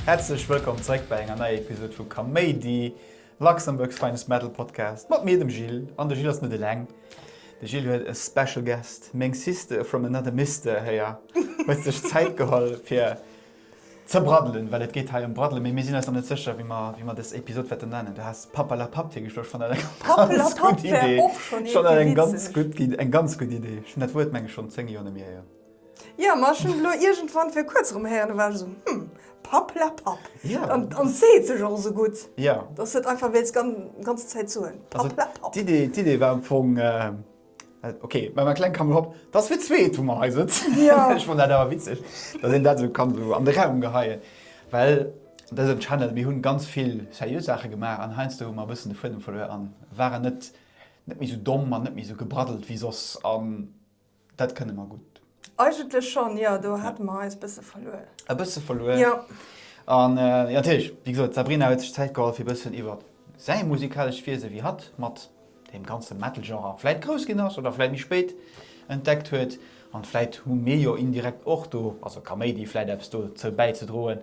Häerzlech wëllkomm zeréck bei enger neier Episode vu Kaméidi, Luxembourg's finest metal podcast mat mir, dem Gilles. An de Gilles ass net eleng, de Gilles huet e special guest, meng sister from another mister héier huet sech Zäit geholl fir Ze braddelen, well et geet hei ëm braddelen, mee mir sinn eis nach net sécher, wéi mer, wéi mer dës Episod wäerten nennen. Du has Pappelapapp virgeschloe, ech fannen dat eng ganz gutt Idee. Pappelapapp wär och schonn iergendwéi witzeg. Ech fannen dat eng ganz gutt Idee, eng ganz gutt Idee. Ech hunn dat Wuert, meng ech, schonn zéng Joer net méi héieren. Jo, ma ech hunn et elo iergendwann fir kuerz erëm héieren, da war ech esou, hm, Pappelapapp. Jo. An et seet sech och esou gutt, dass du et einfach wéilt d'ganz Zäit soen, Pappelapapp. D'Idee war am Fong, Ok, bei menger Kleng kann mech op. Dass fir zwee wou mer hei sëtzen. Ech fannt dat awer witzeg, dass een dat esou kann esou an de Raum geheien. Well dësen Channel, mir hunn ganz vill seriö Saache gemaach an heiansdo hu mer e bëssen de Fuedem verluer an waren net net méi esou domm an net méi esou gebraddelt wéi soss an dat kënne mer gutt. Eigentlech schonn, jo, do hate mer eis e bësse verluer. E bësse verluer? Jo. An jo, natierlech, wéi gesot, d'Sabrina huet sech Zäit geholl, fir e bëssen iwwer säi musikalescht Wiese, wéi hatt mat deem ganze Metal-Genre vläit grouss ginn ass oder vläit méi spéit entdeckt huet, an vläit hu mir jo indirekt och do, also Kaméidi, vläit eppes dozou bäizedroen,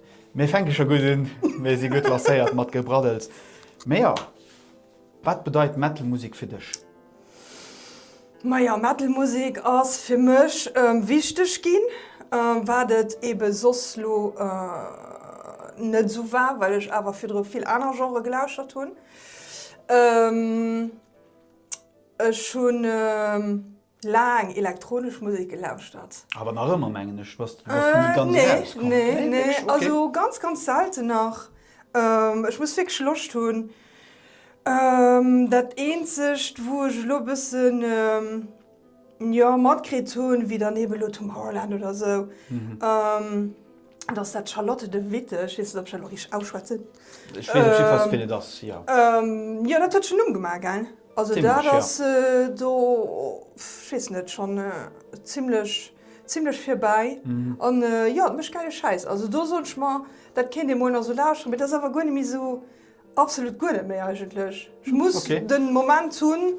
Mir fänke scho gutt un, mir si gutt lancéiert mat Gebraddels. Mee jo, wat bedeit Metal Musek fir dech? Majo, Metal Musek ass fir mech wichteg ginn, wat et ebe soss lo net esou war, well ech awer virdru vill aner Genrë gelauschtert hunn. Ech hunn laang elektronesch Musek gelauschtert. Awer nach ëmmer mengen ech, bass de nach ni ganz eraus komm? Nee, nee, nee, okay, also ganz, ganz selten nach. Ech muss wierklech Loscht hunn. Dat eenzegt wou ech elo e bëssen jo matkritt hunn, wéi dann eben elo Tomorrowland oder esou. dass dat Charlotte de Witte, ech weess net, ob ech dat elo richteg ausschwätzen, Ech weess op jidde Fall, wien et ass, jo. jo, dat huet schonn Numm gemaach, gell? Also dat Zimlech, jo. ass do, ech weess net, schonn zimlech, zimlech virbäi. An jo, et mécht gäile Schäiss. Also do soen ech mer, dat kéint ee mol nach esou lauschteren, mee dat ass awer guer net méi esou. Absolut guer net méi eigentlech. Ech muss okay. den Moment hunn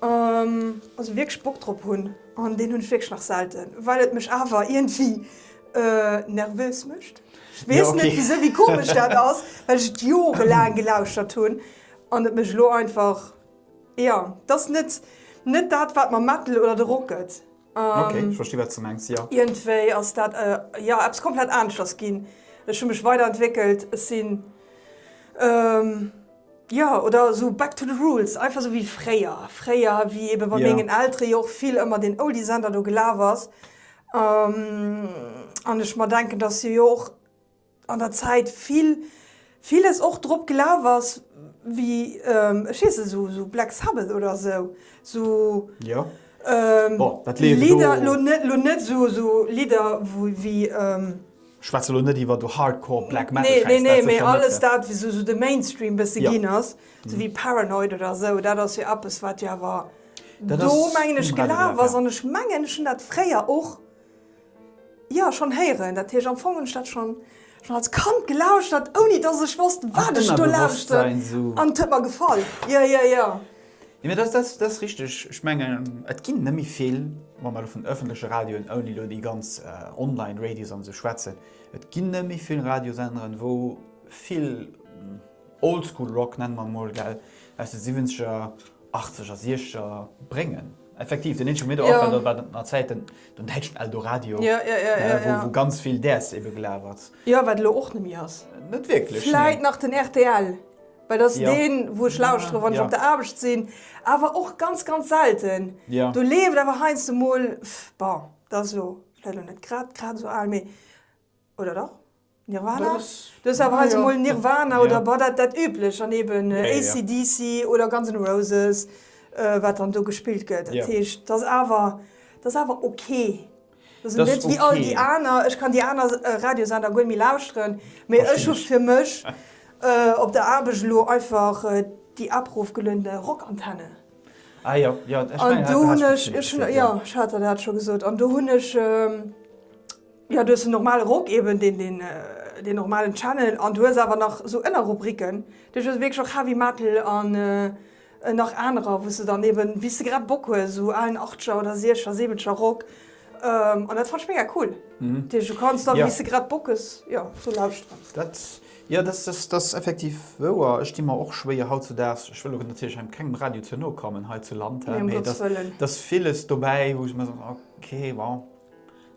ähm, also wierklech Bock drop hunn an deen hunn ech wierklech nach selten, well et mech awer irgendwie äh, nervös mécht. Ech weess ja, okay. net wieso wie komisch dat ass, well ech et jorelaang gelauschtert hunn an et mech lo einfach ja, dat ass net net dat wat mer Metal oder de Rock gëtt. Ok, ech versti wat s de mengs, jo. Iergendwéi ass dat, jo, eppes komplett aneschters ginn. Ech hu mech weiderentwéckelt, ech sinn, jo, oder esou back to the roots, einfach esou wéi fréier. Fréier, wéi ebe bei mengen Eltere jo och vill ëmmer deen Oldie-Sender do gelaf ass an ech mer denken, datt se jo och, an der Zäit vill villes och drop gelaf ass wéi ech weess net esou Black Sabbath oder esou Lidder, elo net esou Lidder wéi, ech schwätze elo net iwwer esou Hardcore Black Metal Schäiss, nee nee mee alles dat wéi esou de Mainstream bësse ginn ass, esou wéi Paranoid oder esou, dat ass jo eppes wat jo awer do mengen ech gelaf ass an ech mengen ech hunn dat fréier och Jo, schonn héieren. Dat heescht, am Fong hunn ech dat schonn als Kand gelauschtert, ouni dass ech wosst, wat ech do lauschten. An et huet mer gefall. Jo, jo, jo. Mee dat ass richteg. Ech mengen, et ginn net méi vill, wa mer elo vun ëffentleche Radioen, ouni elo déi ganz online radios an esou schwätzen, et ginn net méi vill Radiosenderen, wou vill Oldschool-Rock, nenne mer emol, aus de Siwwenzeger 80 a 60 bréngen. Effektiv, den eenzege Meter Affer, dat war an Zäiten den däitschen Eldoradio, wou ganz vill Däers ebe gelaf ass. Jo, wat elo och net méi ass. Net wierklech, nee. Vläit nach den rtl, well dat ass deen, wou ech lauschtere wann ech op der Aarbecht sinn, awer och ganz, ganz selten. Do leeft awer heiansdo mol, bon, dat ass elo vläicht och net grad, grad esou al, mee, oder dach? Nirvana? Du hues awer heise mol Nirvana oder bah dat dat üblech an eben AC/DC oder Guns N' Roses wat dann do gespillt gëtt. Dat heescht dat ass awer dat ass awer ok. Dat ass net wéi all déi aner. Ech kann déi aner Radiosender guer méi lauschteren, mee ech hu fir mech op der Aarbecht elo einfach déi abrofgelunde Rockantenne. Ah jo, jo, ech mengen dat hat de Haas scho gesot. An do hunn ech, jo, ech hat der dat scho gesot, an do hunn ech. Jo du hues den normalen Rock eben, deen deen deen normalen Channel an du hues awer nach sou Ënnerrubriken, du hues wierklech och Heavy Metal an nach anerer wous de dann eben wéis de grad Bock hues sou aalen Achtscher oder Siechcher Siwwenscher Rock an dat fannt ech mega cool. Dat heescht du kanns dann wéis de grad Bock hues jo do lauschteren. Dat jo dat dat ass effektiv wouer. Ech di mer och schwéier hautzedaags, ech wëll och natierlech engem kengem Radio ze no kommen hei zu Land, mee dat ass viles dobäi wou ech mer soen ok bon.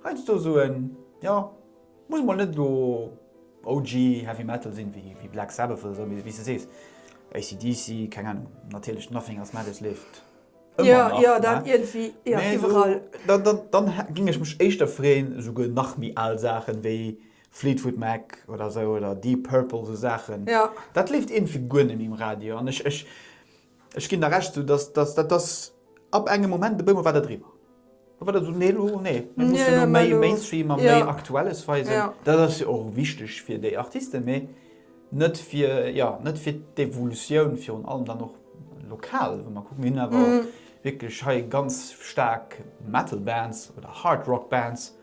Heiansdo soen, jo, muss mol net elo OG Heavy Metal sinn, wéi Black Sabbath oder esou, mee wéi s de sees, AC/DC, keng Ahnung, natierlech Nothing Else Matters leeft ëmmer nach, ne? Mee esou, dann géing ech mech éischter freeën, esouguer nach méi al Saachen, wéi Fleetwood Mac oder esou oder Deep Purple, esou Saachen, dat leeft iergendwéi guer net méi um Radio an ech, Ech ginn der Recht, dat ass ab engem Moment e bëmol war der driwwer. Do war der esou, nee elo, nee, mir mussen elo méi Mainstream a méi Aktuelles weisen. Dat ass jo och wichteg fir déi Artisten, mee net fir, jo, net fir d'Evolutioun virun allem dann och lokal, wa mer kucken. Mir hunn awer wierklech hei ganz staark Metal Bands oder Hard Rock Bands,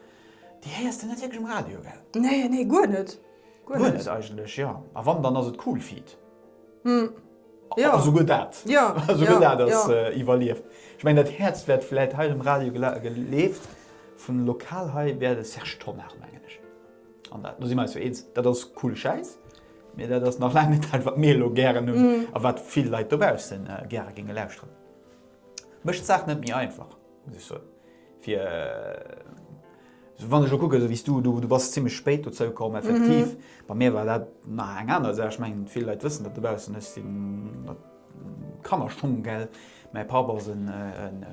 déi héiers de net wierklech um Radio, gell? Nee, nee, guer net. Guer net eigentlech, jo. A wann, dann ass et Coolfeet. Jo, souguer dat! Souguer dat ass iwwerlieft. Ech mengen, dat Häerz wäert vläit hei um Radio geleeft. Vun lokal hei wär de Serge Tonnar, mengen ech. An dat, do si mer eis jo eens, dat ass coole Schäiss, mee dat ass nach laang net dat, wat mir elo gären hunn a wat vill Leit dobausse gäre géinge lauschteren. Mécht d'Saach net méi einfach. Wann ech elo kucken, esou wéi s du, du bass zimmlech spéit dozou komm, effektiv, bei mir war dat nach eng aner Saach. Ech mengen, vill Leit wëssen dat dobaussen, ech sinn Kannerschong, gell. Mäi Papp ass e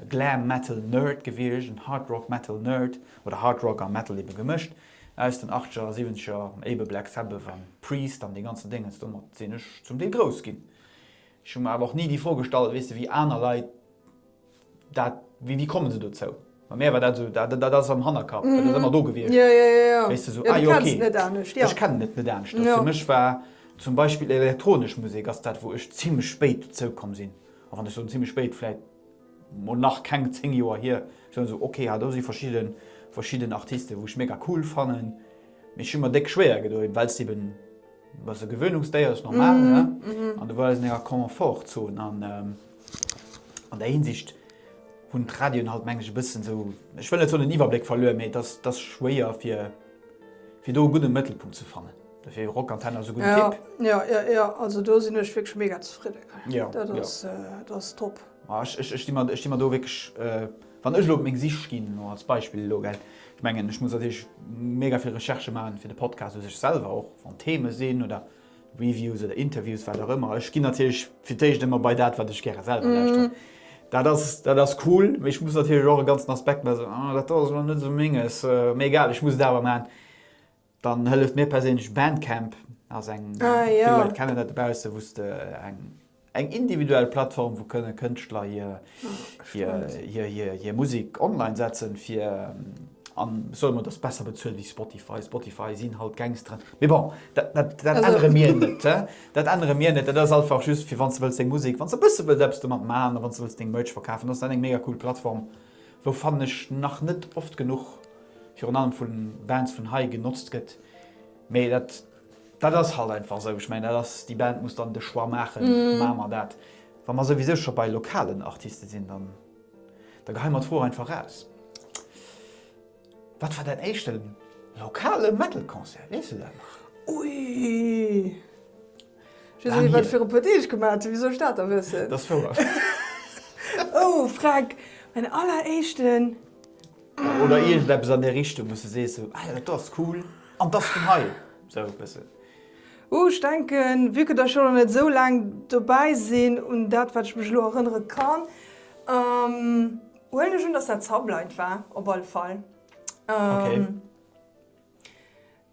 Glam Metal Nerd gewiescht, en Hard Rock Metal Nerd, oder Hard Rock a Metal ebe gemëscht, aus den Achteger a Siwwenzeger, ebe Black Sabbath an Priest an dee ganzen Déngens. Domat sinn ech zum Deel grouss ginn. Ech hu mer awer och ni déi Fro gestallt, weess de, wéi aner Leit, Dat, wéi, wéi komme se dozou? Bei mär war dat esou, dat, dat ass am Hannerkapp, dat ass ëmmer do gewiescht. Ja, ja, ja, ja. Wéis de esou, ah jo, okay. Du kenns et net anescht, ja. Ech kennen et net aneschters. Ja. Fir mech war zum Beispill elektronesch Musek ass dat, wou ech zimmlech spéit dozou komm sinn. A wann ech soen zimmlech spéit, vläit mol nach keng zéng Joer hier, soen esou, okay, ha do si verschidden, verschidden Artisten, wou ech mega cool fannen, mee ech hu mer déck schwéier gedoen, well s eben, ass e Gewöhnungsdéier, ass normal, ne? An do war eis an enger Confort-Zone an. An der Hinsicht hunn d'Radioen halt, mengen ech, e bëssen esou, ech wëll net soen en Iwwerbléck verluer, mee et ass, et ass schwéier fir, fir do e gudde Mëttelpunkt ze fannen. Dofir Rockantenne ass e gudden Tipp. Jo, jo, jo, jo, jo, also do sinn ech wierklech mega zefridden. Jo, jo. Dat ass, dat ass top. Ma ech, ech, ech sti mer, ech sti mer do wierklech, wann ech elo op meng Sich ginn, elo als Beispill elo, gell, ech mengen, ech muss natierlech mega vill Recherche maachen fir de Podcast u sech selwer och, wann Theme sinn oder. Reviews oder Interviews, wat och ëmmer. Ech ginn natierlech fir d'éischt ëmmer bei dat, wat ech gäre selwer lauschteren. Dat ass, dat ass cool, mee ech muss natierlech och e ganzen Aspekt mä esou, ah, dat do ass elo net esou Menges, mee egal, ech muss et awer maachen. Dann hëlleft mir perséinlech Bandcamp, ass eng, vill Leit kennen dat dobaussen, wou s de eng. Eng individuell Plattform, wou kënne Kënschtler hir Musek online setzen fir, an soe mer, dass besser bezuelt wéi Spotify. Spotify sinn halt Gangsteren. Mee bon, dat ännere mir net. Dat ännere mir net. Dat ass einfach just fir, wann s de wëlls deng Musek, wann s de e bësse wëlls eppes domat maachen a wann s de wëlls deng Merch verkafen, ass dat eng mega cool Plattform, wou, fannen ech, nach net oft genuch, virun allem vu Bands vun hei, genotzt gëtt. Mee dat Dat ass halt einfach esou. Ech mengen, dat ass, déi Band muss dann de Choix maachen, Maache mer dat? Wa mer souwisou scho bei lokalen Artiste sinn, dann, da geheie mer d'Fro einfach eraus, Wat war däin éischte lokale Metal-Concert? Weess du dat nach? Ui! Ech weess net, wat ech viru puer Deeg gemaach hunn. Wisou soll ech dat da wëssen? Dat ass wouer. Oh, Fränk, mäin alleréischten Oder iergendeppes an där Richtung, wou s de sees sou, ah jo, dat ass cool an dat ass vun hei, sou e bëssen. Ouh, ech denken, vue que der scho nach net esou laang dobäi sinn, un dat, wat ech mech elo erënnere kann, huelen ech un, datt dat Sublight war, op alle Fall.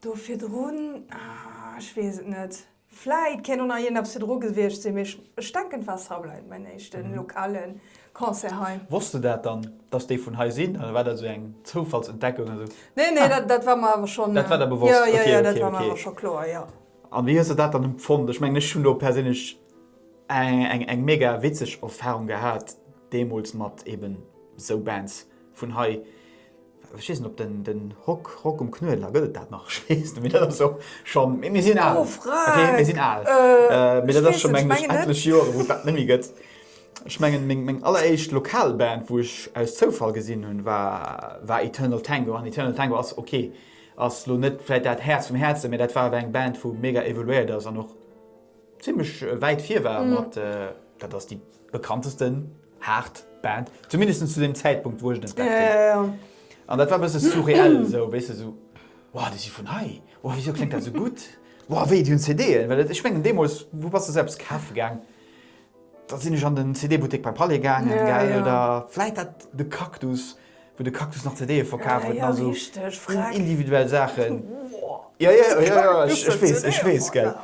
Do virdrun, ah, ech weess et net. Vläit kéint och nach iergend eppes virdru gewiescht sinn, mee ech denken, et war Subline, mäin éischte lokale Concert hei. Wosst de dat dann, dass déi vun hei sinn, oder war dat esou eng Zoufallsentdeckung? Nee, nee, dat war mer awer schonn. Dat war der bewosst? Jo, jo, jo, dat war mer awer scho kloer, jo. An wéi hues de dat dann empfonnt? Ech mengen, ech hunn do perséinlech eng mega witzeg Erfahrung gehat, deemools mat eeben esou Bands vun hei. Ech weess net op den den Rock Rock um Knuedler, gëtt et dat nach? Ech weess net méi. Dat ass jo schonn, mee mir sinn al. Douf Fra! Ok, mir sinn al. Ech weess net, ech menge net. Mee dat ass schonn, meng ech, etlech Joren, wou et dat net méi gëtt. Ech mengen, meng meng alleréischt lokal Band, wou ech aus Zoufall gesinn hunn, war war Eternal Tango. An Eternal Tango ass ok, ass elo net vläit dat Häerz vum Häerzen, mee dat war awer eng Band, wou mega evoluéiert ass an och Zimlech wäit vir war mat, dat ass déi bekanntesten haart Band, zumindest zu deem Zäitpunkt wou ech en entdeckt hunn. An dat war e bësse surreal esou, weess de, esou, wow, déi si vun hei, wow, wisou kléngt dat esou gutt, wow, wéi, déi hunn CD'en? Well ech mengen deemools, wou bass de se eppes kafe gaang? Da sinn ech an den CD-Buttek beim Palais gaangen, gell, oder vläit dat de Cactus, wou de Cactus nach CDe verkaf huet, na sou individuell Saachen. Jo, jo, jo, jo, ech weess, ech weess, gell.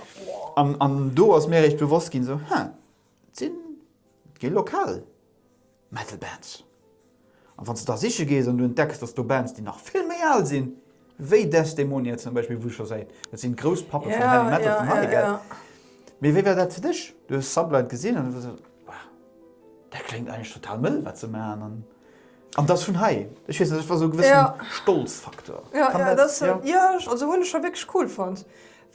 An do ass mir eréischt bewosst ginn, sou, Haa, et sinn vill Lokaler. Metal Bands. An wann s de da siche gees an du entdecks, datt do Bands, déi nach vill méi al sinn, wéi Desdemonia zum Beispill, wou ech scho säit, dat sinn d'Grousspappe vum Heavy Metal vun haut, gell? Mee wéi war dat fir dech? Du hues Sublight gesinn an hues gesot, Wow, dat kléngt eigentlech total mëll, wat se maachen an an dat ass vun hei. Ech weess net, dat war esou e gewësse Stolzfaktor. Jo, jo, dat, jo, also hunn ech scho wierklech cool fonnt,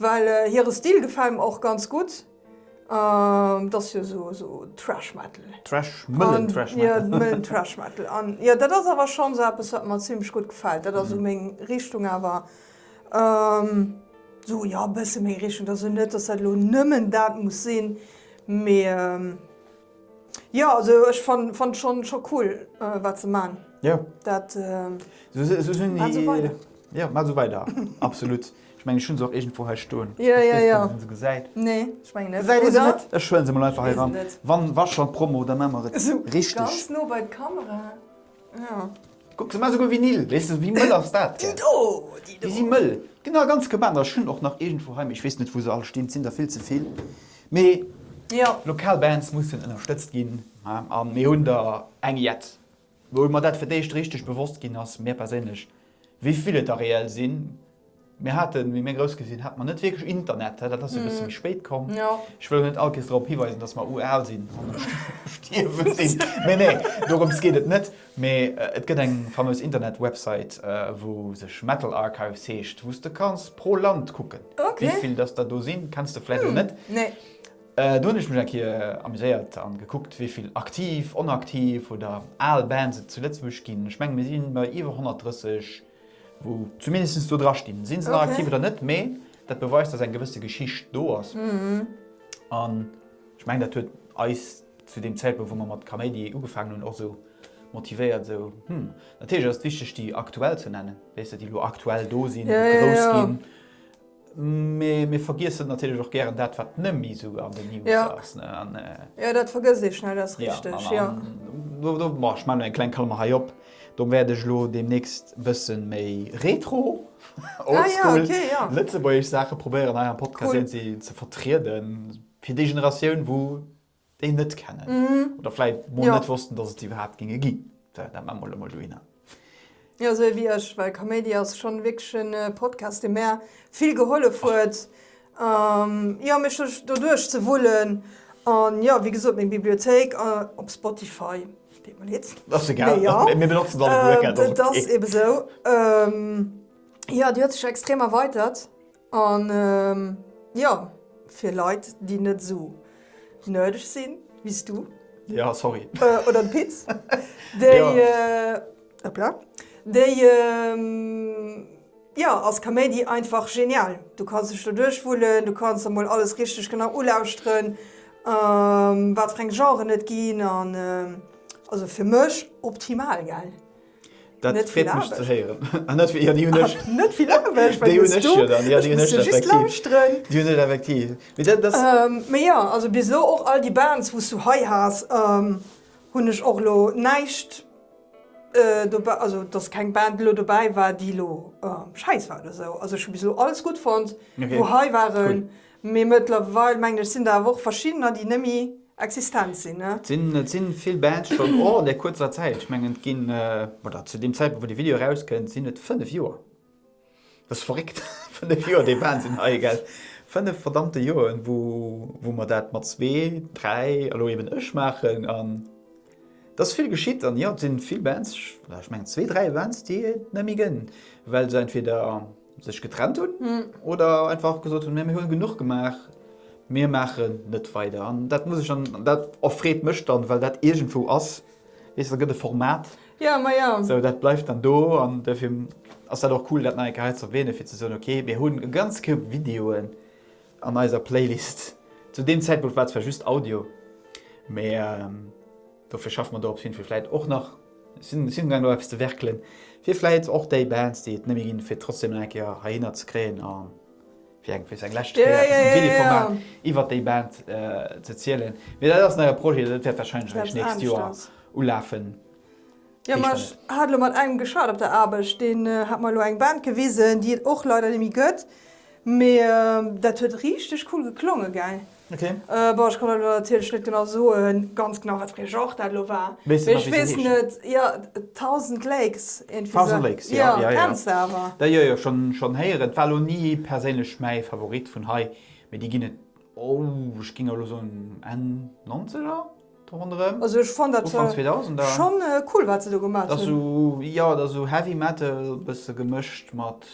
well hire Stil gefält mer och ganz gutt. An dat ass jo esou esou Trash Metal. Trash, mëllen Trash Metal. An jo, mëllen Trash Metal. An jo, dat ass awer schonns eppes, wat mer zimmlech gutt gefält. Dat ass esou meng Richtung awer. Esou, jo, e bësse meng Richtung. Dat ass jo net, dass dat elo nëmmen dat muss sinn, mee Jo also ech fannt schon schon cool waat se maan daat maan sou weider. Jo maan sou weider absolut ech mengen ech hun se och iergendwou hei stoen ech wees net ob een se gesäit nee ech mengen net gesäit een se net ech huelen se mol einfach hei ran wann wa schon promo da maan mer et richteg ganz no bei d'camera. Kuck, se man esouguer Vinyl, weess de, wéi mëll ass dat? Déi do! Déi si mëll, genau, ganz geban. Ech hunn och nach iergendwou heim, mee ech weess net, wou se all stinn, et sinn der vill ze vill. Mee lokal Bands mussen ënnerstëtzt ginn. A mir hunn der eng jett, wou mer dat fir d'éischt richteg bewosst ginn ass, mir perséinlech. Wéi vill et der reell sinn, mir haten, wéi mir grouss gi sinn, hate mer net wierklech Internet, dat ass e bësse méi spéit komm. Ech wëll och net all Kees drop hiweisen, dass mer ural sinn an um Stierwe sinn. Nee, nee, dorëms geet et net. Mee et gëtt eng fameus Internet-Website, wou sech Metal Archives heescht, wou s de kanns pro Land kucken, wéi vill dass der do sinn. Kenns de vläicht och net. Do hunn ech mech eng Kéier amuséiert a gekuckt, wéi vill aktiv, onaktiv oder al Bands et zu Lëtzebuerg ginn. Ech menge mir si bei iwwer 130, wou zumindest do drastinn. Si se nach aktiv oder net, mee dat beweist, datt eng gewësse Geschicht do ass. An ech mengen, dat huet eis zu deem Zäitpunkt, wou mer mat Kaméidi ugefaangen hunn, och esou motivéiert, esou, hm. Natierlech ass et wichteg, déi aktuell ze nennen, wéisst de, déi elo aktuell do sinn, déi grouss ginn. Mä mir vergiessen natierlech och gären dat, wat nemmi esou an den News ass. Jo, dat vergësst ee schnell, dat ass richteg, jo. Do maache ech mol eng kleng Klammer hei op. Do wäert ech elo deemnächst e bësse méi retro, old school, lëtzebuergesch Saache probéieren hei am Podcast iergendwéi ze vertrieden. Fir déi Generatioun, wou déi net kennen oder vläit mol net wossten, dass et se iwwerhaapt géinge ginn. Well dat maache mer elo mol dohinner. Jo, esou ewéi ech, well Kaméidi ass schonn wierklech en Podcast, dee mär vill gehollef huet, jo, mech do duerch ze wullen. An jo, wéi gesot, meng Bibliothéik op Spotify, deet mer leed, mee jo, dat ass ebe sou, jo, déi huet sech extrem erweitert. An jo, fir Leit déi net esou nerdeg sinn wéis du. Ja sorry. Oder de Pit. Déi hoppla. Déi jo ass Kaméidi einfach genial. Du kanns dech do duerch wullen, du kanns der mol alles richteg genau ulauschteren wat fir eng Genren et ginn an also fir mech optimal gell. Dat freet mech ze héieren. Net vill Aarbecht. Déi hunn ech jo dann. Déi hunn ech effektiv. Mee jo, also bis elo och all déi Bands, wou s du hei has, hunn ech och elo näischt, also datt keng Band elo dobäi war, déi elo schäiss war oder esou. Also ech hu bis elo alles gutt fonnt, wou hei waren. Mee mëttlerweil, mengen ech, sinn der awer och verschiddener, déi nëmme existent sinn, ne? Et sinn, et sinn vill Bands schonn och an där kuerzer Zäit. Ech mengen, et ginn, oder zu deem Zäitpunkt, wou dee Video erauskënnt, sinn et fënnef Joer. Dat ass verréckt, fënnef Joer, déi Band sinn hei, gell? Fënnef verdammte Joren, wou, wou mer dat mat zwee, dräi, elo eben ech, maachen. An et ass vill geschitt. An jo, et sinn vill Bands, ech mengen, zwee, dräi Bands, déi et net méi gënn, well se entweder, sech getrennt hunn mm. oder einfach gesot hun mir hunn genug gemaach. Mir mache net weider an dat muss ich an dat offreet mech dann, well dat irgendwo ass wees gëtt de Format. Ja ma ja so, dat bleift dann do an defir ass dat och cool dat nei Geheit ze wene fir ze soun okay, mir hunn e ganz Koup Videoen an eiser Playlist. Zu dem Zäitpunkt war zwar just Audio, mee. Ähm, Dofir schaffe mer do op jiddefir vläit och nach, sinn si ugaang do eppes ze werkelen, fir vläit och déi Bands, déi et net méi ginn, fir trotzdeem nach eng Kéier heihinner ze kréien a fir eng fir eng lescht Kéier eppes am Télé-Format iwwer déi Band z'erzielen. Mee dat ass nach e Projet, dat wäert wahrscheinlech eréischt d'nächst Joer ulafen. Jo ma ech hat elo mat engem geschat op der Aarbecht, deen hat mer elo eng Band gewisen, déi et och leider nemme gëtt, mee dat huet richteg cool geklonge gell. Ok. Bon ech kann elo natierlech net genau soen, ganz genau wat fir ee Genre dat elo war, mee ech weess net. Weess se nach wéi se heescht? Jo, Thousand Lakes iergendwéi sou. Thousand Lakes, jo, jo, jo. Jo, kenns de awer. Jo, jo, jo, schonn, schonn héieren. Et war elo ni perséinlech mäi Favorit vun hei, mee déi ginn et, oh ech géing elo soen Enn Nonzeger? Ronderëm Ufank 2000er. Schonn cool wat se do gemaacht hunn. Dat ass esou, jo dat ass esou Heavy Metal bësse gemëscht mat,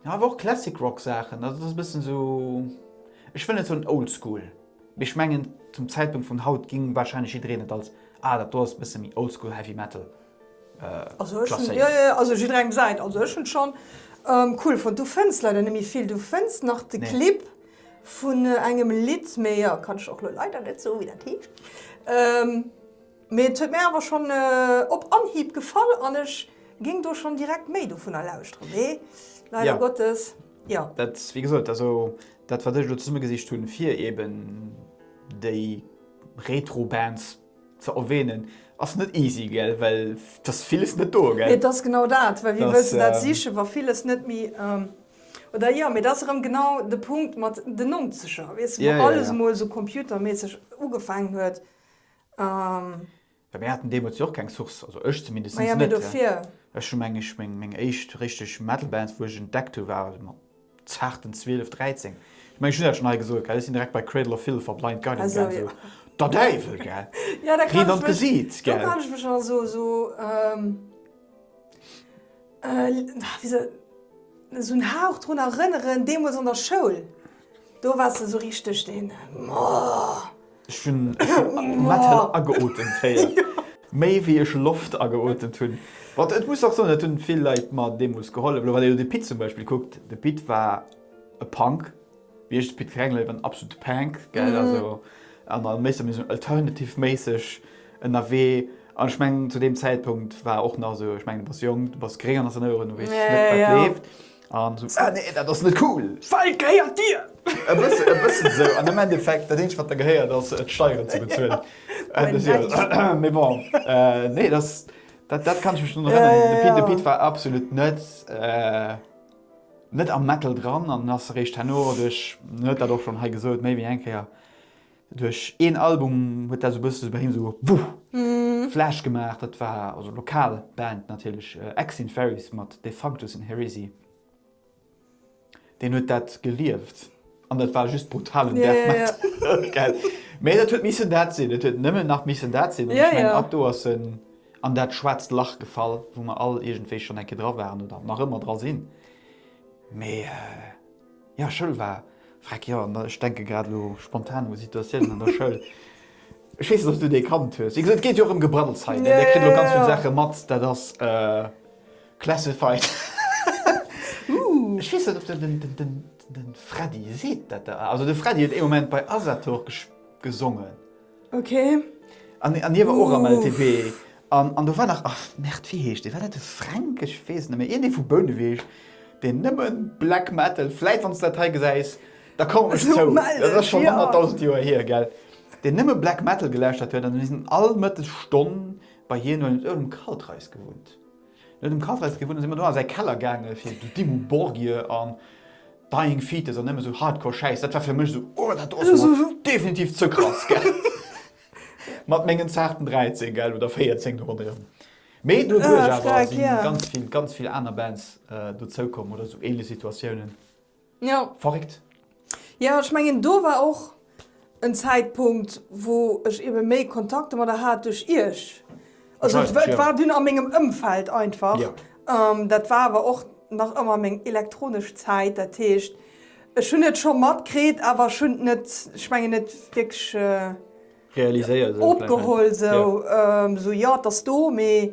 jo awer och Classic Rock Saachen. Dat ass e bëssen esou, ech wëll net soen Old School, mee ech mengen zum Zäitpunkt vun haut géing wahrscheinlech jiddereen et als, ah dat do ass e bësse méi Old School Heavy Metal klasséieren. Jo jo, also jidderengem säint. Also ech hunn schonn cool fonnt. Du fënns leider net méi vill. Du fënns nach de Clip. Vun engem Lidd, mee jo, kann ech och lo leider net soen, wéi dat heescht. Mee et huet mir awer schonn op Anhieb gefall an ech géing do schonn direkt méi dovunner lauschteren. Mee leider Gottes, jo. Dat, wéi gesot, also dat, wat ech elo zesummegesicht hunn, fir eeben déi Retro-Bands ze erwähnen ass net easy gell well dass villes net do gell Et ass genau dat, well wéi wëlls de dat sichen, wa villes net méi oder jo, mee dat ass erëm genau de Punkt mat den Nonzeger, weess de, wou alles emol esou computerméisseg ugefaangen huet. Mir haten deemools jo och keng Source, also ech zumindest net. Maja, mee dofir. Ech hu meng éischt richteg Metal Band, wou ech entdeckt hu, war mat. Zarten 12, 13. Ech mengen ech hunn dat schonn hei gesot, gell, ech sinn direkt bei Cradle of Filth a Blind Guardian gaang, esou der Däiwel, gell, Reen an d'Gesiit, gell. Do kann ech mech also esou, wéi se, esou en Hauch drun erënneren, deemools an der Schoul, do wars de esou richteg deen, oh. Ech hun Metal ageotemt héiert, méi wéi ech Loft ageotemt hun. Bon, et muss och soen, et hun vill Leit mer deemols gehollef. Elo wann een elo de Pit zum Beispill kuckt, de Pit war e Punk, wéi ech de Pit kennengeléiert hun, war en absolute Pank, gell, also an a méi sou alternative-méisseg ënnerwee. An ech mengen zu deem Zäitpunkt war och nach esou, ech mengen, du bass jonk, du bass gréng an der Erinnerung, du weess net, wat leeft. An esou, Ah nee, dat ass net cool! Well gehéiert dir! E bëssen, e bëssen esou. An am Endeffekt, dat eenzegt, wat der gehéiert, ass d'Steieren ze bezuelen. An esou, Moin, Daddy! Mee bon, nee, dass, dat, dat kann ech mech drun erënneren. De Pit, de Pit war absolut net, net am Metal dran an ass eréischt herno duerch, en huet dat och schonn hei gesot, méi wéi eng Kéier, Duerch een Album huet dat sou bësse bei him sou Wuh! Flash gemaach. Dat war, also lokal Band natierlech, Ex in Fairies mat Defunctus in Heresy. Deen huet dat gelieft an dat war just brutalen Death Metal, gell? Mee dat huet missen dat sinn. Et huet nëmmen nach missen dat sinn. An ech mengen, ab do ass en an dat schwaarzt Lach gefall, wou mer all iergendwéi schonn eng Kéier dra waren oder nach ëmmer dra sinn. Mee. Jo, Schoul war freck, jo, an ech denke grad elo spontan u Situatiounen an der Schoul. Ech weess net, ob s du déi kannt hues. Wéi gesot, et geet jo och ëm Gebraddels hei, mä dir kritt elo ganz vill Saache mat, dat ass classified. Ech weess net, ob der de Freddy seet, dat der. Also de Freddy huet ee Moment bei Asator gesongen. Ok. An hie war och am LTB. An do war nach, ach merde, wéi heescht dee? War dat de Fränk? Ech weess et net méi. Iergendee vu Bouneweg, deen nëmme Black Metal, vläit wann s de dat hei gesäis, da komm mech zou, dat ass schonn honnertdausend Joer hier, gell, deen nëmme Black Metal gelauschtert huet. An mir sinn all Mëttesstonn bei hien, well en huet ëm Kaltreis gewunnt. En huet ëm Kaltreis gewunnt, da si mer do a säi Keller gaange fir Dimmu Borgir an. Dying Fetus an nëmme sou Hardcore Schäiss, dat war fir mech esou, oh dat do ass mol definitiv ze krass, gell. Mat mengen zaarten 13, gell, oder 14 do ronderëm. Mee doduerch awer si ganz vill, ganz vill aner Bands dozou komm oder sou ähnlech Situatiounen. Jo. Verréckt. Jo, ech mengen do war och en Zäitpunkt wou ech eben méi Kontakte mat der hat duerch Iech, also et war et war dunn a mengem Ëmfeld einfach, dat war awer och nach ëmmer meng elektronesch Zäit, dat heescht ech hunn et scho matkritt, awer ech hunn et net, ech mengen net wierklech opgeholl, sou, jo et ass do, mee.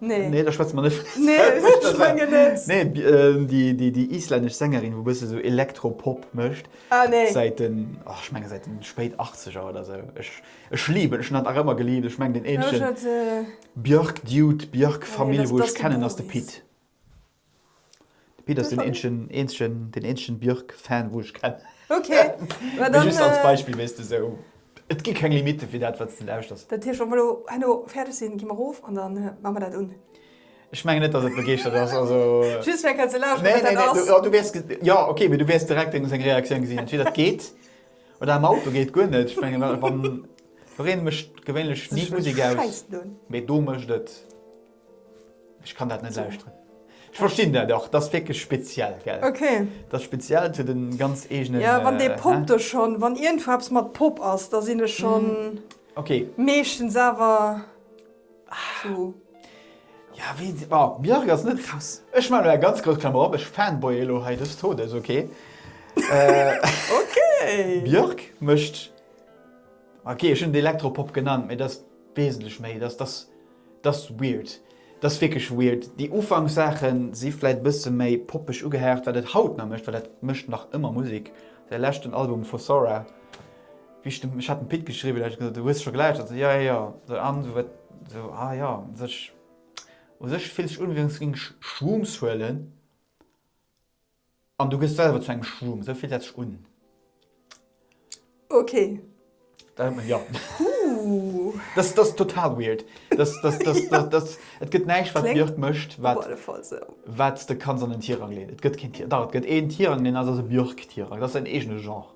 Nee. Nee, da schwätze mer net Nee, ech menge net. Nee, déi islännesch Sängerin, wou e bësse sou Elektro-Pop mécht. Ah, nee. Säit den, och, ech menge säit den spéit Achtzeger oder sou. Ech liben, ech hunn dat nach ëmmer gelift. Ech meng den eenzegen Björk-Dude, Björk-Famill, wou ech kennen, ass de Pit. De Pit ass den eenzegen, eenzegen, den eenzegen Björk-Fan, wou ech kennen. Okay. Mä dann. Just als Beispill, wéi s de esou. Et gi keng Limite fir dat, wat s de lauschters. Dat heescht, wa mer elo herno fäerdeg sinn, gi mer erof an da maache mer dat un. Ech mengen net, dass et begeeschtert ass. Also. Just fir eng Kéier ze lauschteren, wat dat ass. Nee, nee, nee. Jo, okay, mee du wäers direkt deng, seng Reaktioun gesinn. Entweder et geet oder am Auto geet guer net. Ech mengen, wa, wann. Doreen mécht gewéinlech ni d'Musek aus. Mee do mécht et. Ech kann dat net lauschteren. Ech verstinn dat och, dat ass wierklech speziell, gell? Okay. Dat ass speziell, et huet e ganz eegenen. Jo, wann dee Pop do schonn, wann iergendwou eppes mat Pop ass, da sinn ech schonn. Okay. Meeschtens awer zu. Ja, wéi se, bon, Björk ass net. Krass. Ech maachen elo eng ganz grouss Klammer op, ech fanboye elo hei des Todes, okay? Okay. Björk mécht, okay, ech hunn et Elektropop genannt, mee dat ass wesentlech méi, dat ass. Dass weird, dass wierklech weird. Déi Ufanksaachen si vläit bësse méi poppeg ugehaucht wat et haut nach mécht, well dat mécht nach ëmmer Musek. Säi leschten Album Fossora, wéi ech dem, ech hat dem Pit geschriwwen, hat gesot, hues de scho gelauschtert? Ech sou, jo jo jo an esou wat, esou ah jo u sech, u sech fillt sech un wéi wann s de géings Shrooms huelen. An du gëss selwer zu engem Schwumm, esou fillt dat sech un. Ok. Da hëlt mer op. Dass ass total weird. Et gëtt näischt wat Björk mécht wat s de kanns an en Tirang leeën. Et gëtt keen Tirang. Dach et gëtt een Tirang, deen ass ass e Björk-Tirang. Dat ass säin eegene Genre.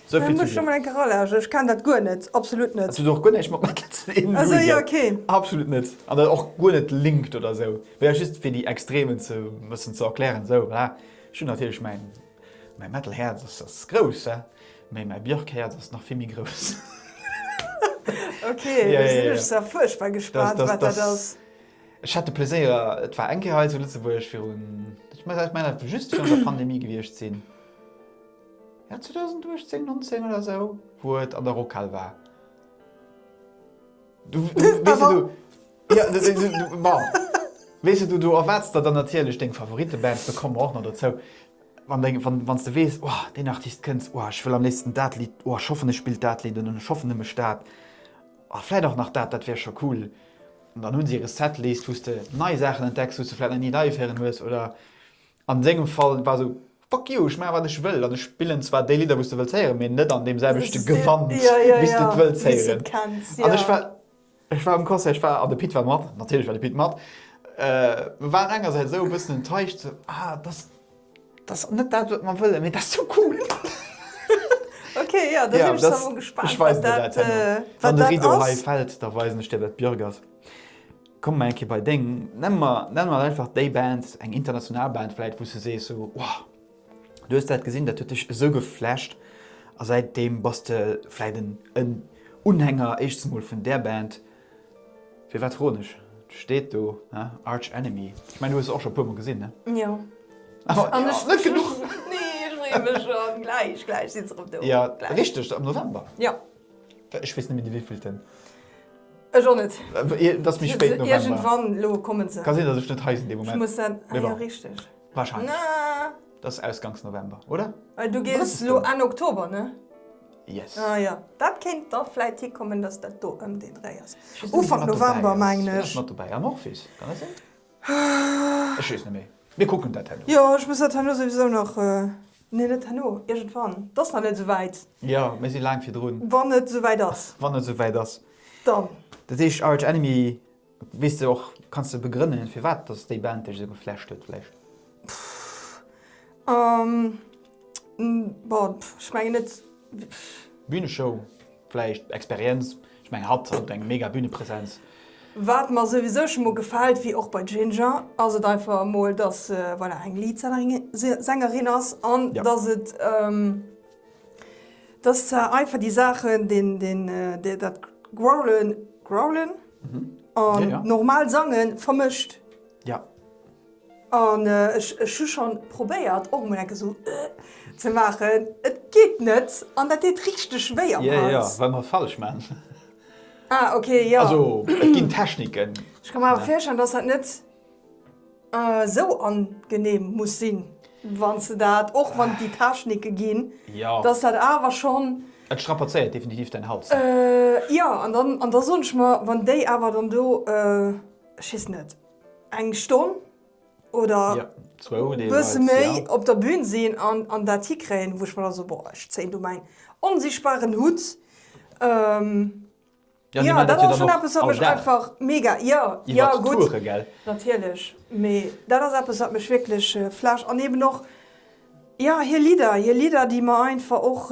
Sou vill zu dir. Ech ken dat guer net, absolut net. Hues du och guer näischt mat Metal ze dinn? Also jo, ok. Absolut net. An dann och guer net linked oder sou. Mä just fir déi Extremen ze bëssen ze erklären sou voilà. Ech hunn natierlech mäin, mäi Metal Häerz ass ass grouss he, mä mäi Björk Häerz ass nach vill méi grouss. Ok, da sinn ech zwar fuerchtbar gespaant wat dat ass. Ech hat de Pleséier, et war eng Kéier hei zu Lëtzebuerg virun, ech mengen dat muss just virun der Pandemie gewiescht sinn. Ja 2018 19 oder esou wou et an der Rockhal war. Du weess jo du ja du bon weess jo du du erwaarts der dann natierlech deng Favoritebands, do komme mer och nach dozou, wann deng wann wann s de weess oh deen Artist kënnst oh ech wëll am léifsten dat Lidd oh ech hoffen e spillt dat Lidd un an ech hoffen e mécht dat oh vläit och nach dat dat wär scho cool an dann hu se hire Setlist wou s de nei Saachen entdecks wou s de vläit nach ni live héieren hues oder An sengem Fall war sou, fuck you, ech maachen wat ech wëll an ech spillen zwar déi Lidder wou's de wëlls héieren, mee net an deem selwechte Gewand wéi's de et wëlls héieren. An ech war, ech war um Concert, ech war, an de Pit war mat, natierlech war de Pit mat, mer waren engersäits esou e bëssen enttäuscht, sou, ah dass dass net dat wat mer wëllen, mee dass sou cool. Ok, jo, da sinn ech zwar mol gespaant, wat dat, wat dat ass. Ech weisen der dat herno, wann de Rideau hei fält, da weisen ech dir wat d'Björk ass. Kommen mer eng Kéier bei deng, nenne mer, nenne mer einfach déi Band, eng international Band vläit, wou s de sees sou, Wow, du hues dat gesinn, dat huet dech esou geflasht a säit deem bass de vläit en, en Unhänger éischtst emol vun där Band. Firwat froen ech? Et steet do, ne, Arch Enemy. Ech mengen, du hues se och scho e puer mol gesinn, ne? Jo. Awer, jo, net genuch. Nee, ech freeë mech schonn. Gläich, gläich sinn se erëm do. Jo, richteg, am November. Jo. Ech weess net méi de wéivielten. Ech och net. Et ass méi spéit November. Iergendwann elo kommen se. Ka sinn, datt ech net hei sinn dee Moment. Ech muss dann, ah jo, richteg. Warscheinlech. Dat ass ausgangs November, oder? Well du gees elo Enn Oktober, ne? Yes. Ah jo, dat kéint da vläit hikommen, datt dat do ëm deen Dréi ass. Ufank November mengen ech. Ech weess net, ob ech mat dobäi sinn. Amorphis, kann dat sinn? Ech weess net méi. Mir kucken dat herno. Jo, ech muss dat herno souwisou nach, nee, net herno, iergendwann. Et ass nach net esou wäit. Jo, mir si laang virdrun. Wann et esou wäit ass. Wann et esou wäit ass. Dann. Dat heescht Arch Enemy, weess de och, kanns de begrënnen, firwat dass déi Band dech esou geflasht huet vläicht? Bon, ech mengen net. Bühneshow. Vläicht Experienz, ech meng hatt huet eng mega Bühnepresenz. Wat mer souwisou scho mol gefält, wéi och bei Ginger, ass et einfach emol, dass se voilà eng Leadsängerin ass an dass et, dass zwar einfach déi Saachen, deen, dat Growlen, Growlen? an normal Sange vermëscht. An ech hu schon probéiert och mol enke sou ze maachen, et geet net an dat deet richteg wéi am Hals. Jo jo, well mer et falsch maan. Ah ok, jo. Also et ginn Techniken. Ech ka mer awer virstellen dass dat net sou angenehm muss sinn wanns de dat, och wann et déi Technike ginn, dass dat awer schon. Et strapazéiert definitiv däin Hals. Jo an dann, an da soen ech mer wann déi awer dann do, ech weess net. eng Stonn oder e bësse méi op der Bün sinn an dat hikréien, wou ech mer da so, boah, ech zéien do mäin onsichtbaren Hutt. Jo, dat ass schonn eppes, wat mech einfach mega, jo, jo gutt, natierlech, mee dat ass eppes, wat mech wierklech flasht. An eeben och, jo, hir Lidder, hir Lidder, déi mer einfach och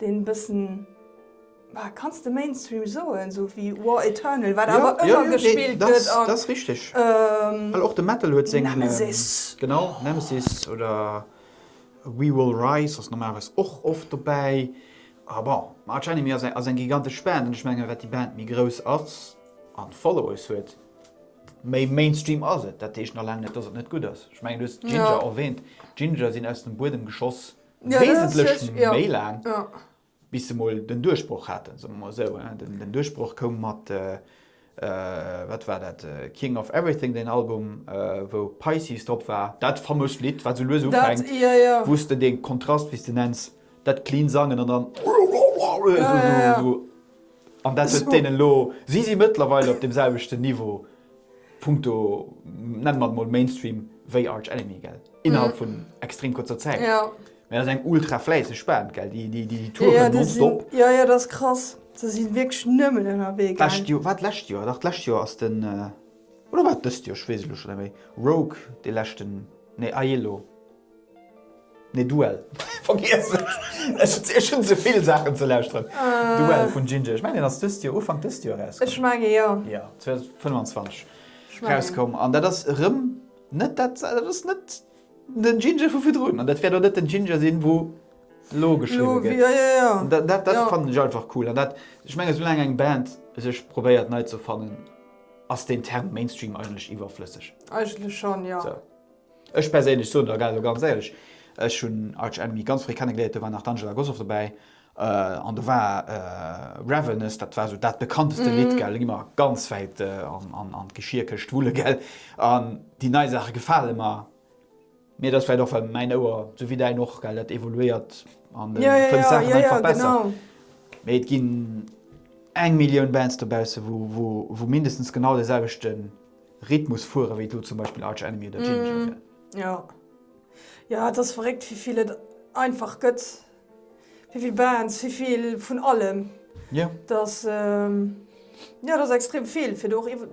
Deen bëssen, ah, kanns de Mainstream soen, sou wéi War Eternal, wat awer ëmmer gespillt gëtt. Jo, jo, dat ass richteg. Well och de Metal huet seng. Nemesis. Genau, Nemesis oder We Will Rise ass normalerweis och oft dobäi. A bon, Arch Enemy ass eng, ass eng gigantesch Band. An ech menge wat déi Band méi grouss ass a Followers huet, méi Mainstream ass et. Dat heescht nach laang net, dass et net gutt ass. Ech mengen, du hues Jinjer erwähnt. Jinjer sinn aus dem Buedem geschoss. wesentlech méi laang, bis se mol den Duerchbroch haten, soe mer mol esou. Den Duerchbroch koum mat, wat war dat, King of Everything, deen Album, wou Pisces drop war, dat famoust Lidd, wat esou lues ufänkt, wou s de dee Kontrast, wéi s de nenns, dat clean Sangen an dann esou. An dat huet deenen elo, si si mëttlerweil op deem selwechten Niveau, punkto, nenne mer et emol Mainstream, wéi Arch Enemy, gell, innerhalb vun extrem kuerzer Zäit. Mee dat ass eng ultra fläisseg Band, gell, déi touren nonstop. Jo, jo, dat ass krass. Déi si wierklech nëmmen ënnerwee gaangen. D'lescht Joer, war et d'lescht Joer? Dach, d'lescht Joer ass den, oder war et dëst Joer, ech weess et elo scho net méi, Rogue dee leschten, nee, Aiello. Nee Duell. Vergiess et, ech hunn souvill Saachen ze lauschteren. Duell vun Ginger, ech mengen deen ass dëst Joer, Ufank dëst Joer eraus komm. Ech menge jo. Jo, 2025 eraus komm an dat ass erëm net dat, dat ass net den Ginger vu virdrun an dat wäert och net den Ginger sinn wou elo geschriwwen gëtt. Elo, jo, jo, jo. Dat fannen ech einfach cool an dat, ech menge soulaang eng Band sech probéiert nei ze erfannen ass deen Term Mainstream eigentlech iwwerflësseg. Eigentlech schonn, jo. Ech perséinlech soen der elo ganz éierlech, ech hunn Arch Enemy ganz fréi kennegeléiert, do war nach d'Angela Gossow dobäi an do war Ravenous, dat war esou dat bekannteste Lidd gell, elo gi mer ganz wäit an d'Geschierkëscht wulle gell, an déi nei Saache gefale mer, mee et ass vläicht och well mäin Ouer, esou wéi däin och gell, dat evoluéiert an fënnt Saachen einfach besser, mee et ginn eng Millioun Bands dobausse wou mindestens genau de selwechte Rhythmus fueren, wéi et elo zum Beispill Arch Enemy oder Jinjer wier. Jo, jo, et ass verréckt, wéi vill et einfach gëtt, wéi vill Bands, wéi vill vun allem. Jo. Et ass, jo, et ass extrem vill, fir do och iwwer,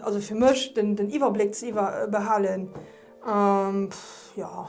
also fir mech, den Iwwerbléck ze behalen. Jo.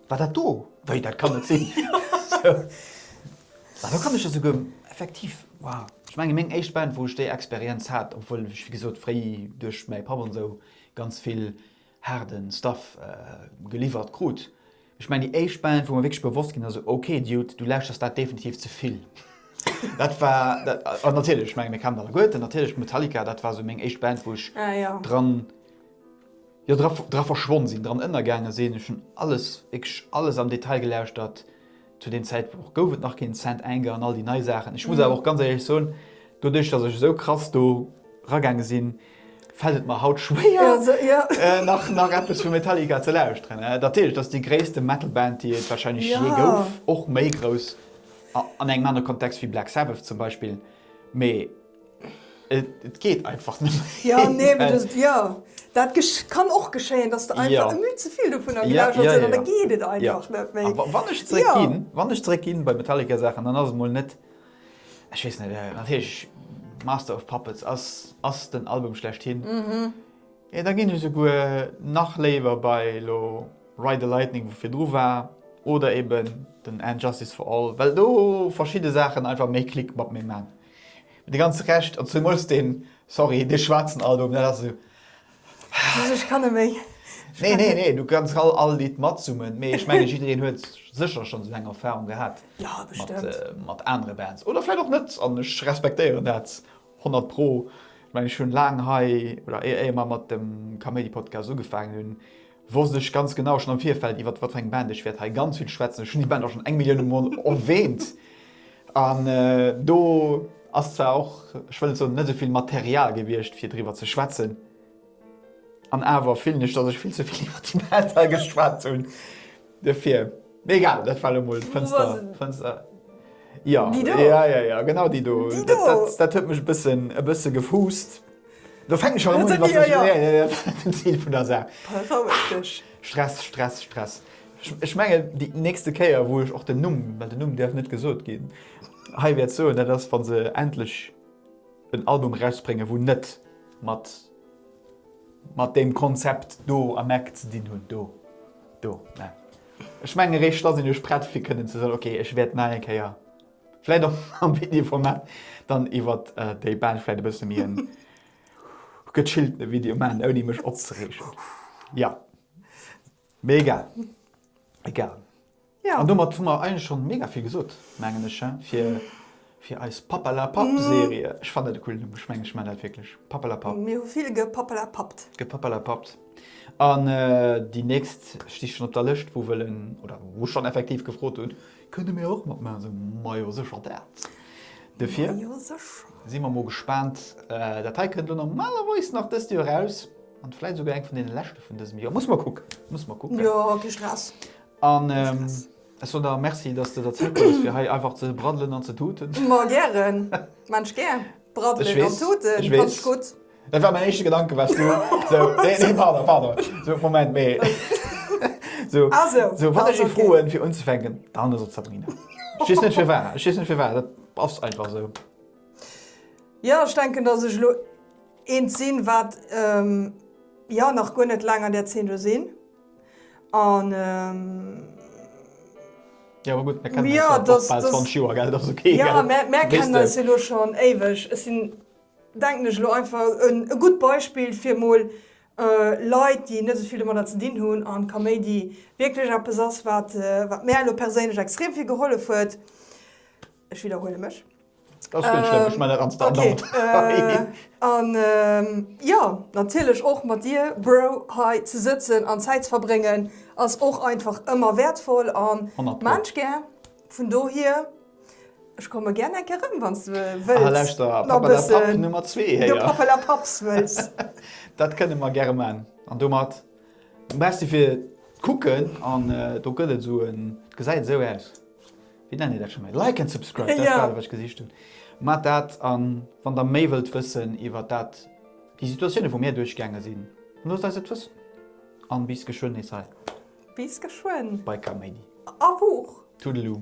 War dat do? Wei, dat kann net sinn! Mä do kann ech jo souguer effektiv, wow, ech menge meng éischt Band, wou ech déi Experienz hat, obwuel ech, wéi gesot, fréi duerch mäi Papp an esou ganz vill haarde Stuff geliwwert krut, ech mengen déi éischt Band, wou mer wierklech bewosst ginn ass, esou, ok Dude, du lauschters dat definitiv ze vill, dat war, an natierlech, ech menge mir kamen alleguerten, natierlech Metallica, dat war esou meng éischt Band, wou ech dran. Jo, dra, dra verschwonn sinn, dran ënnergaange sinn. Ech hunn alles, wierklech alles am Detail gelauschtert. Zu deem Zäitpunkt gouf et nach keen Saint Anger an all déi nei Saachen. Ech muss awer och ganz éierlech soen, doduerch dass ech esou krass do ragaange sinn, fält et mer haut schwéier, nach, nach eppes vu Metallica ze lauschteren. Natierlech, dat ass déi gréisste Metal-Band, déi et warscheinlech jee gouf, och méi grouss an engem anere Kontext wéi Black Sabbath zum Beispill, mee. Et geet einfach net méi. Jo, nee, mee dat, jo, dat kann och geschéien, dass de einfach e Mütz ze vill dovunner gelauscht hues an da geet et einfach net méi. A wann ech zeréck ginn, wann ech zeréck ginn bei Metallica-Saachen, dann ass et mol net, ech weess net, natierlech Master of Puppets ass, ass den Album schlechthin. Mee da ginn ech esouguer nach léiwer bei elo Ride the Lightning, wou virdru war, oder eben den And Justice for All, well do verschidde Saachen einfach méi Klick mat mir maachen. Mee de ganze Recht, an zemools deen, sorry, dee schwaarzen Album, dat ass esou. Also ech kann net méi. Nee, nee, nee, du kanns all all Lidd matsummen, mee ech menge jiddereen huet sécher schonn esou eng Erfarung gehat mat mat anere Bands. Oder vläicht och net an ech respektéieren dat honnert pro. Ech menge ech hunn laang hei, oder éier mer mat dem Kaméidi-Podcast ugefaangen hunn, wosst ech ganz genau schonn am Virfeld, iwwert wat fir eng Band ech wäert hei ganz vill schwätzen. Ech hunn déi Band och schonn eng Millioune Mol erwähnt. An do ass zwar och, ech wëll et soen, net esou vill Material gewiescht, fir driwwer ze schwätzen. An awer fillen ech, datt ech vill ze vill iwwert déi Band hei geschwat hunn. De Fir. Mee egal, dat war elo mol d'Fënster, d'Fënster. Jo, ja, ja, ja, genau déi do. Déi do! Dat, dat huet mech e bëssen, e bësse gefuusst. Do fänken ech schonn un, iwwer sech, jo, jo, jo, den Zil vun der Saach. Beroueg dech. Stress, Stress, Stress. Ech, ech mengen, déi nächste Kéier, wou ech och den Numm, well den Numm däerf net gesot ginn, hei wäert soen, dat ass, wa se endlech en Album erausbréngen, wou net mat, mat deem Konzept do am Eck ze dinn huet do. Do, mä ech mengen, eréischt da sinn ech prett fir kënnen ze soen, okay, ech wäert nach eng Kéier, vläicht och am Videoformat, dann iwwert déi Bench vläicht e bësse méi en gechilltene Video maachen, ouni mech opzereegen. Jo, mee egal, egal. Ja. An domat hu mer eigentlech schon mega vill gesot, mengen ech, fir, fir eis Pappalapapp-Serie. Ech fannen dat e coolen Numm. Ech mengen, ech man dat wierklech. Pappalapapp. Mir hu vill gepappalapappt. Gepappalapappt. An déi nächst sti schon op der Lëscht, wou wëllen, oder wou schon effektiv gefrot hunn, Kënne mir och matmaachen? Esou, Majo, sécher dat. Dofir. Majo, sécher. Si mer mol gespaant. Dat hei kënnt lo normalerweis nach dëst Joer eraus. An vläit esouguer eng vun deene leschte vun dësem Joer. Muss mer kucken. Muss mer kucken. Jo, kee Stress. An ech soen der Merci, dass de der Zäit hues fir hei einfach ze braddelen an ze tuten. Ma gären, Mensch gär. Braddelen an tuten konnt ech gutt. Dat war mäin éischte Gedanke wars du esou, nee, nee, pardon, pardon, esou, Moment, mee esou, esou wann ech ee froen fir unzefänken, dann ass et d'Sabrina. Ech weess net firwar, ech weess net firwar, dat ass einfach esou. Jo, ech denken, dass ech elo eent sinn, wat jo nach guer net laang an där Zeen do sinn. An Ja, ma gutt, mär kennen eis jo och bal 20 Joer, gell? Dat ass ok, gell? Jo, mä mär kennen eis jo elo schonn éiweg. Ech sinn, denken ech, elo einfach e gutt Beispill fir emol Leit, déi net esou vill domadder ze dinn hunn, an Kaméidi wierklech eppes ass, wat mär elo perséinlech extrem vill gehollef huet. Ech widderhuele mech. Dat ass guer net schlëmm, ech man dat an Standard. Okay. An jo, natierlech och mat dir, Bro, hei ze sëtzen an Zäit ze verbréngen ass och einfach ëmmer wäertvoll a maan ech gär. Vun dohier, ech komme gär eng Kéier erëm, wann s de wëlls. Ah, lauschter, Papa la Papp Nummer zwee héier. De Papa la Papps wëlls. Dat kënne mer gäre maan. An domat merci fir d'Kucken. An do gëtt et esou en, et gesäit esou aus. Wéi nennen dir dat scho méi? Like and subscribe, dat war dat, wat ech gesicht hunn. Maacht dat an wann der méi wëllt wëssen iwwert dat, déi Situatioune wou mir duerchgaange sinn, loosst eis et wëssen. An bis geschwënn nees hei. Bis geschwënn. Bei Kaméidi. A Buch. Toodaloo.